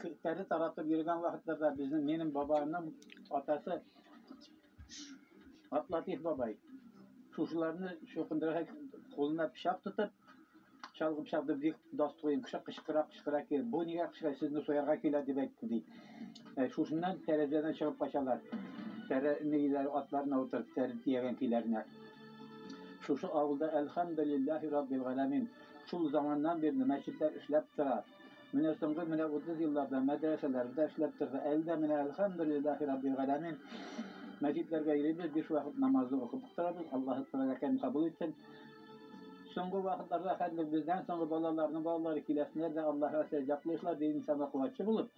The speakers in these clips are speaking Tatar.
Кертәре таратып йөргән вакытларда безнең минем бабаның атасы Атлатиф бабай шушыларны шокындырырга кулына пычак тотып, чалгы пычак дип бик дас куен кеше кычкыра кычкыра ки, бу нигә кычкыра сезне соярга килә дип әйтте ди. Ә, шушыннан тәрәзәдән чыгып качалар. Тәрә нигеләр атларына утырып тәрен тиягән көйләренә. Шушы авылда әлхәмдулиллаһи раббил галәмин. Шул заманнан бирле мәчетләр эшләп тора. Менә соңгы менә 30 елларда мәдрәсәләрдә эшләп торды. Әле дә менә әлхәмдүлиллаһи раббил галәмин мәчетләргә йөрибез, биш вакыт намазны укып торабыз, Аллаһы тәбәрәкәем кабул итсен. Соңгы вакытларда хәзер бездән соңгы балаларның балалары киләсеннәр дә Аллаһыга сәҗдә кылыйклар, ди инсанга куәтче булып.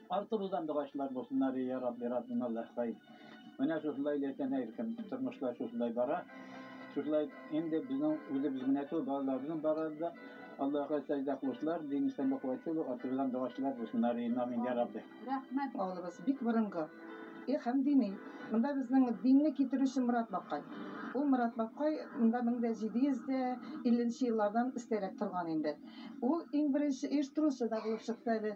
Артыбыздан дугачлар булсыннар и я Рабби Раббим Аллаһкай. Менә шушылай ләкин һәркем тормышлар шушылай бара. Шушылай инде безнең үзебез генә түгел, балаларыбызның барары да Аллаһка сәҗдә кылучылар, дин исәнлек куәт юлы артыбыздан дугачлар булсыннар и Амин я Рабби. Рәхмәт, авылыбыз бик борынгы и һәм дини. Монда безнең динне китерүче Морат бабкай. Ул Морат бабкай монда 1750 нче еллардан өстәрәк торган инде. Ул иң беренче оештыручы да булып чыкты әле.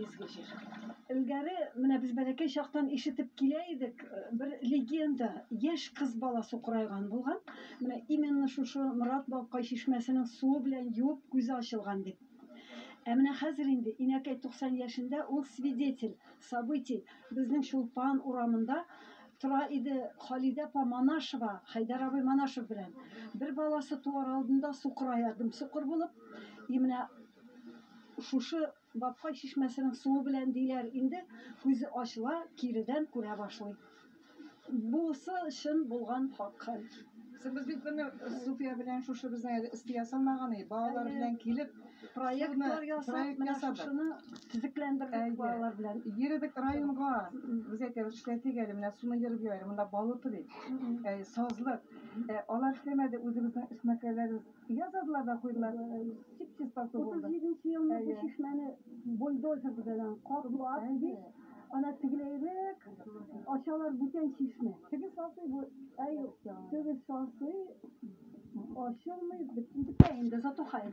изге җир. Элгәре менә без бәләкәй чактан ишетеп килә идек, бер легенда, яшь кыз бала сукырайган булган, менә именно шушы Морат бабкай чишмәсенең суы белән юып күзе ачылган дип. Ә менә хәзер инде инәкәй 90 яшендә, ул свидетель событий, безнең Чулпан урамында тора иде Халидә апа Манашева, Хәйдәр абый Манашев белән. Бер баласы туар алдында сукырая дөм-сукыр булып, и менә шушы Бабкай чишмәсенең суы белән диләр инде, күзе ачыла, киредән күрә башлый. Бусы чын булган хак хәл. Без бит моны Суфия белән шушы безнең әле өсте ясалмаган өй, балалар белән килеп, проектлар ясап, менә шушыны төзекләндердек балалар белән. Йөредек районга, без әйтәбез, эшләтик әле, менә суны ерып йөрәләр, монда балык бит, сазлык. Алар эшләмәде, үзебезнең эшмәкәрләребез. Ясадылар да куйдылар, чип чистасы булды. Утыз җиденче елны бу чишмәне бульдозер белән каплап, һич ана тегеләйрәк ачалар бүтән чишмә. Теге сасый бу, әй, теге сасый ачылмый, бетте инде, зато хәер.